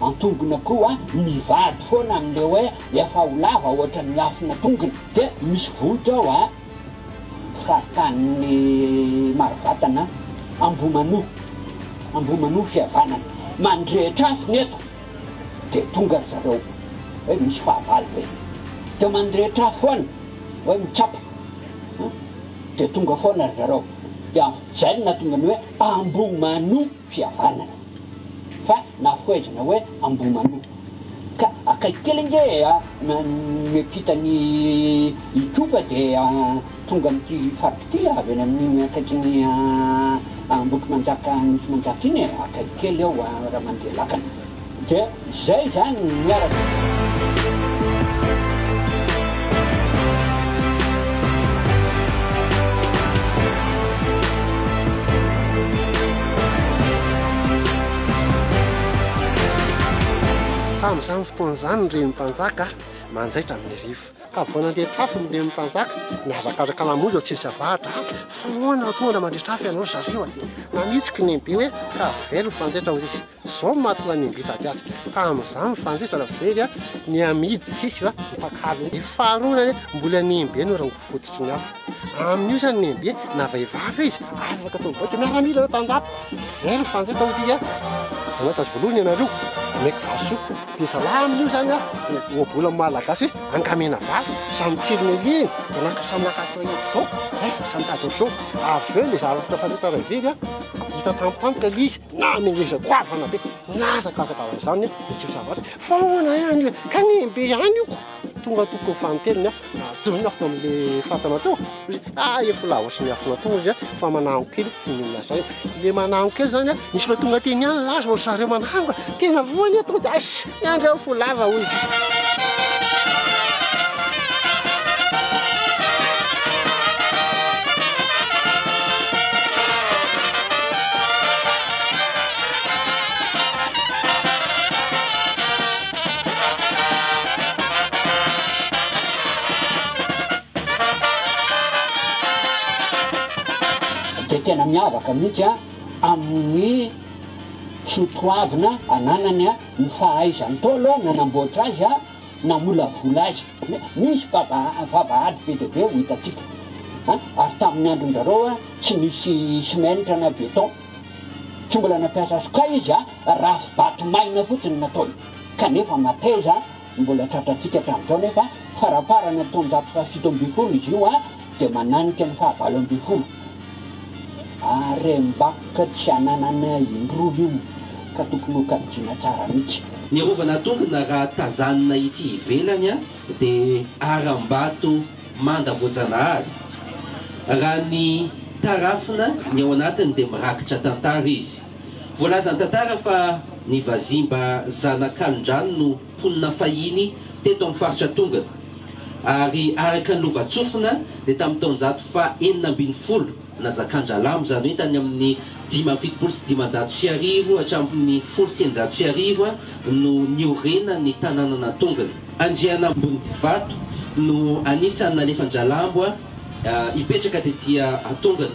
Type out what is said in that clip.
Antongona koa mivady foana amle hoe efa ho lava ohatran'ny afona tongony de misy vohitra ao a faritanin'ny Marovatana Ambohimanoa Ambohimanoa fihavanana mandrehitra afony eto de tonga ry zareo hoe misy fahavalo ve de mandrehitra afo foana hoe mitsapa de tonga foana ry zareo de afojaina tongany hoe Ambohimanoa fihavanana fa nafohezina hoe Ambohimanoto ka akaiky kely ange a! Miampita an'i Itopa dia tonga amin'ity faritra ity avy any amin'iny akaikin'i Ambohitrimanjaka Anosimanjaka iny e! Akaiky kely eo raha mandeha lakana. dia izay izany ny miaraka. Tamin'izany fotoana izany ny Renin'ny Mpanjaka manjaitra amin'ny rivo. Ka vao nandeha an-trafo ny Renin'ny Mpanjaka, nihazakazaka namonjy an'i Tsesavahatra hoe fa ahoana no tonga mandritra afo ianao ry zareo? Dia nanitsy kinembe hoe ka avela ho fanjaitra hoy izy. Zao no mahatonga ny mbita ady azy tamin'izany ny fanjaitra very ny amidy sisa io ny mpakalo io. Faharoa anie mbola ny embe no rongony fototry ny afo. Amin'io zany ny embe na vehivavy izy afaka atao baiko. Miaramila ireo tandapa very ny fanjaitra hoy ity a. Anao tazo voalohany ianareo omeko valisoa. Dia zalahy amin'io zany a ohabola amin'ny malagasy hoe angamena valo. Samy tsilo niliany dia naka samy naka atao ohatr'izao. Hay samy mitady ohatr'izao. Avy eo ilay zavatra fanjaitra raha very a hita tampotampoka ilay izy. na ny ngeza goavana be mihazakazaka amin'izany ny tsy fahavalony fa ahoana ihany le kanenbe ihany io tonga tokony ho fanintelony a adonina fo amin'le fatana teo izy ah efa lavo sy miafina teo izy a fa manango kely tsy minona zay le manango kely zany a misy fa tonga teny ihany laza ory zareo manango tena voany eto de asy Miandry aho fo lava hoy izy. Dia tena miavaka mihitsy amin'ny soatoavina ananany ny fahaizany tao aloha nanamboatra azy namolavola azy nisy vava vavahady be dia be ho hitantsika a ary tamin'ny andron-dRareo a tsy nisy simenitra na béton tsy mbola nampiasa sokay izy a rafi-bato maina fotsiny nataony kanefa mateza Ny mbola tratrantsika hatramin'izao nefa faraparany amin'ny taonjato fahafito ambin'ny folo izy io dia mananika ny fahavalo ambin'ny folo. Harem-bakoka tsy ananana indroa io ka tokony ho kajiana tsara mihitsy. Ny arovana tokona raha tazanina ity ivelany dia harambato manda voajanahary. Raha ny tarafina ny ao anatiny dia mirakitra tantara izy. Voalaza an-tantara fa ny vazimba zanakalondrano no mponina fahiny teto amin'ny faritra Tongany, ary araka ny lovantsofina dia tamin'ny taonjato faha enina ambin'ny folo nazakan-dRalamo, izany hoe tany amin'ny dimy amby fitopolo sy dimanjato sy arivo hatramin'ny folo sy eninjato sy arivo no niorenan'ny tanànan'Antongany. Andrianambonivato no anisan'ny nalefan-dRalambo hipetraka tetỳ Antongany.